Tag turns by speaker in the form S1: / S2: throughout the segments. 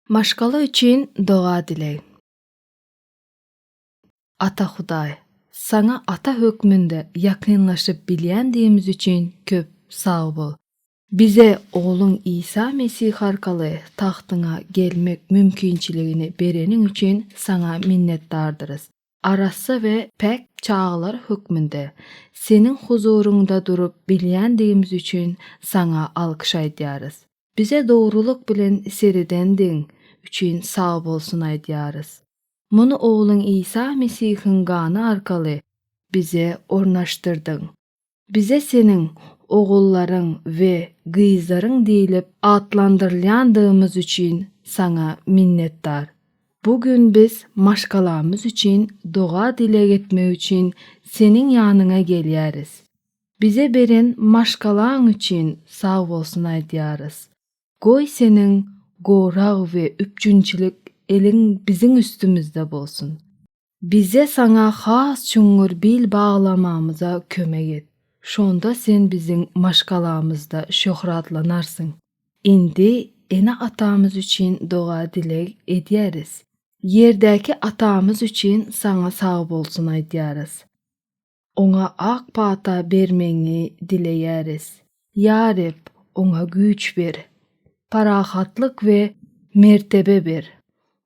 S1: Maşgala üçin doga dileg. Ata Hudaý, Saňa ata hökmünde ýakynlaşyp bilýändigimiz üçin köp sag bol. Bize Ogluň Isa Mesih arkaly tagtyňa gelmek mümkinçiligini bereniň üçin Saňa minnetdardyrys. Arassa we päk çagalar hökmünde Seniň huzuryňda durup bilýändigimiz üçin Saňa alkyş aýdýarys. Bize dogrulyk bilen seredendigiň üçin sagbolsun aýdýarys. Muny Ogluň Isa Mesihiň gany arkaly bize ornaşdyrdyň. Bize Seniň ogullaryň we gyzlaryň diýlip atlandyrylýandygymyz üçin Saňa minnetdar. Bu gün biz maşgalamyz üçin doga-dileg etmek üçin Seniň ýanyňa gelýäris. Bize beren maşgalaň üçin sagbolsun aýdýarys. Goý Seniň gorag we üpjünçilik eliň biziň üstümizde bolsun. Bize saňa has çuňňur bil baglamamyza kömek et. Şonda sen biziň maşgalamyzda şöhratlanarsyň. Indi ene-atamyz üçin doga-dileg edýäris. Ýerdäki Atamyz üçin saňa sagbolsun aýdýarys. Oňa ak pata bermegiňi dileýäris. Ýa Reb, oňa güýç ber, parahatlyk we mertebe ber.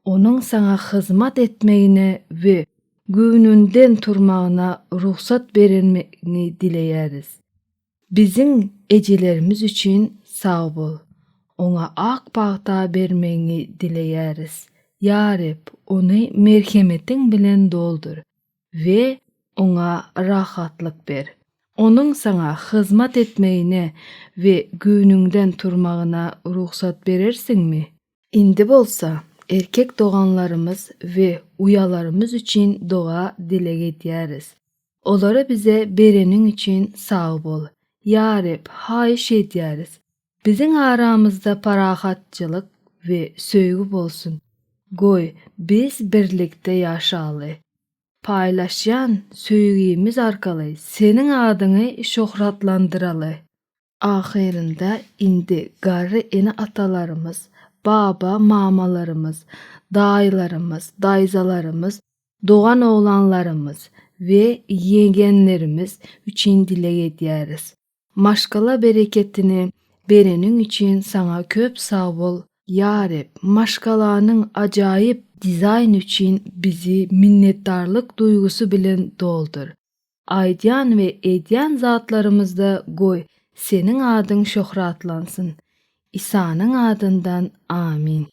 S1: Onuň Saňa hyzmat etmegine we göwnünden turmagyna rugsat berenmigiňi dileýäris. Biziň ejelerimiz üçin sag bol. Oňa ak pata bermegiňi dileýäris. Ýa Reb, ony merhemetiň bilen doldur. we oňa rahatlyk ber. Onuň saňa hyzmat etmegine we göwnüňden turmagyna rugsat berersiňmi? Indi bolsa, erkek doganlarymyz we uýalarymyz üçin doga-dileg edýäris. Olary bize bereniň üçin sag bol, ýa Reb, haýyş edýäris, Biziň aramyzda parahatçylyk we söýgi bolsun. Goý, biz birlikde ýaşaly. Paýlaşýan söýgimiz arkaly Seniň adyňy şöhratlandyraly. Ahyrynda indi garry ene-atalarymyz, baba-mamalarymyz, daýylarymyz, daýzalarymyz, dogan-oglanlarymyz we ýegenlerimiz üçin dileg edýäris. Maşgala bereketini bereniň üçin saňa köp sag bol Ýarep, maşgalanyň ajaýyp dizaýny üçin bizi minnetdarlyk duýgusy bilen doldur. Aýdýan we edýän zatlarymyzda goý Seniň adyň şöhratlansyn. Isanyň adyndan Amin.